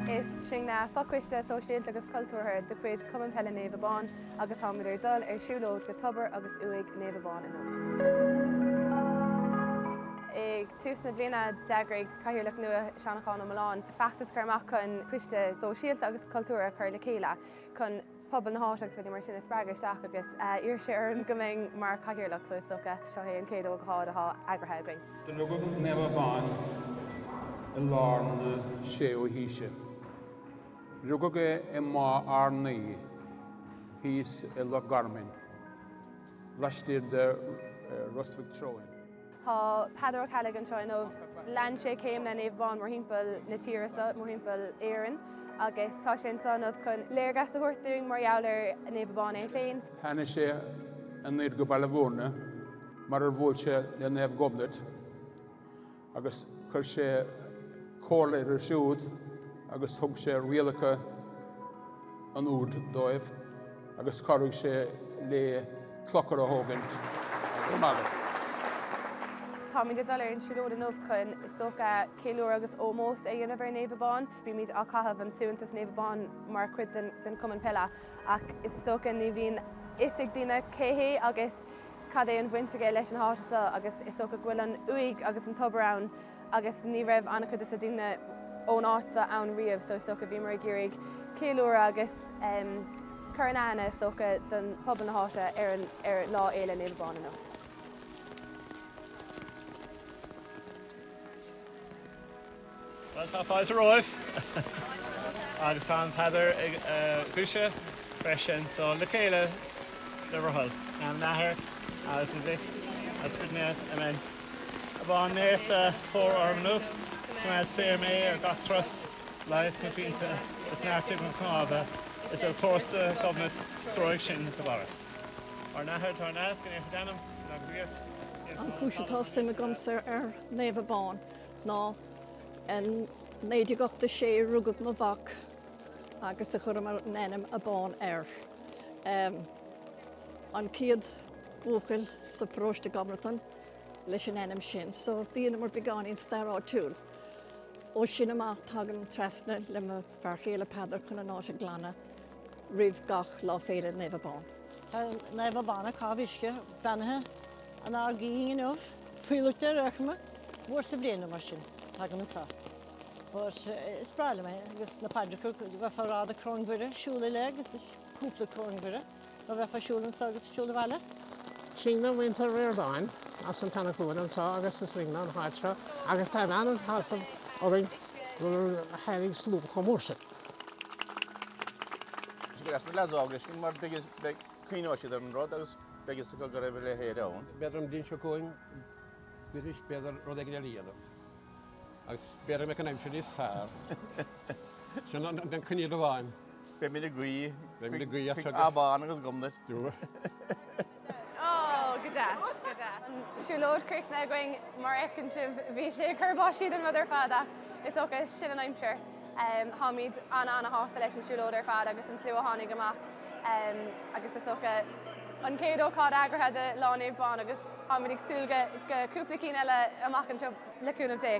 Is sinne fochoiste sóisialta agus cultúrtha de chuid Chumann Peile Naomh Abán agus táimid ar dul ar siúlóid go Tobar agus Uaigh Naomh Abán inniu. Ag tús na bliana d'eagraigh Cathaoirleach nua Seanchán Ó Mulláin feachtas a chur amach chun coiste sóisialta agus cultúrtha a chur le chéile chun pobal na háite agus rudaí mar sin a spreagadh isteach agus d'iarr sé orm go mbeinn mar chathaoirleach so is dócha seo é an chéad ócáid atá eagraithe againn. Do rugadh Naomh Abán i lár na séú haoise. Rugadh é i Maigh Arnaí, thíos i Loch Garmain, laistiar de Ros Mhic Treoin. Tá Peadar Ó Ceallaigh anseo inniu. Lean sé céimeanna Naomh Abán mórthimpeall na tíre seo, mórthimpeall Éireann, agus tá sé anseo inniu chun léargas a thabhairt dúinn mar gheall ar Naomh Abán é féin. Tháinig sé anoir go Baile Bhúirne mar ar bhuail sé le Naomh Gobnait agus chuir sé comhairle uirthi siúd agus thug sé rialacha an úird dóibh. agus chabhraigh sé le clochar a thógaint i mBaile. Táimid ag dul ar an tsiúlóid inniu chun, is dócha, ceiliúradh agus ómós a dhéanamh ar Naomh Abán. Bímid ag caitheamh an suaitheantas Naomh Abán mar chuid den Chumann Peile, ach is dócha ní bhíonn fhios ag daoine cé hé agus cad é an bhaint aige leis an háit seo, agus is dócha go bhfuil an uaigh agus an tobar ann. agus ní raibh an-chuid des na daoine ón áit seo ann riamh so is dócha bhíomar ag iarraidh ceiliúradh agus cur in aithne is dócha don phobal na háite ar an ar Lá Fhéile Naomh Abán inniu. Bhuel tá fáilte romhaibh agus tá an phaidir agaibhse freisin so le chéile le bhur dtoil, in ainm an Athar agus an Mhic agus an Spioraid Naoimh, Áiméan. Abán naofa fóir orm inniu. Coimeád saor mé ar gach turas leigheas mo phianta is neartaigh mo chnámha is ar chúrsa Ghobnait treoraigh sinn go Parthas. Ár nAthair atá ar neamh, go naofar d'ainm, go dtaga do ríocht, déan do thoil. An chúis atá suim agamsa ar Naomh Abán ná in 1986 rugadh mo mhac agus chuireamar an ainm Abán air. An chéad. buachaill sa pharóiste Gobnatan leis an ainm sin so dheineamar beagáinín stair áitiúil. Ó sin amach tagaim trasna le mo fear chéile Peadar chun an áit a ghlanadh roimh gach lá féile Naomh Abán. Tá Naomh Abán ag caitheamh uisce beannaithe an Ard Gidhing inniu faoi loit de réchime uair sa bhliain nó mar sin tagaim anseo. But is breá liom é agus na paidreacha a bheith á rá, an Choróin Mhuire, siúl i leith agus cúpla Coróin Mhuire. Go raibh ag siúl anso agus ag siúl abhaile. Sinne muintir Ríordáin as an tSeana Chluain anso agus is linne an áit seo agus tá an-shásamh orainn go tháinig slua chomh mór sin. Is deas na leads óga sin mar beidh cuimhneoidh siad ar an rud agus beidh fhios acu go raibh a leithéid ann. B'fhéidir an bhliain seo chugainn b'fhéidir rud éigin eile a dhéanamh agus b'fhéidir go mbeidh an aimsir níos fearr. Sin an coinníoll amháin. Beidh mé ag guí. Beidh mé ag guí chuig Abán agus Gobnait. Go deas, go deas. An siúlóid críochnaithe againn, mar a fheiceann sibh, bhí sé ag cur báistí den rud ar fad ach is dócha sin an aimsir. Táimid an-ana-shásta leis an siúlóid ar fad agus an slua a tháinig amach agus is dócha an chéad ócáid eagraithe de Lá Naomh Abán agus táimid ag súil go cúpla cinn eile amach anseo le cúnamh Dé.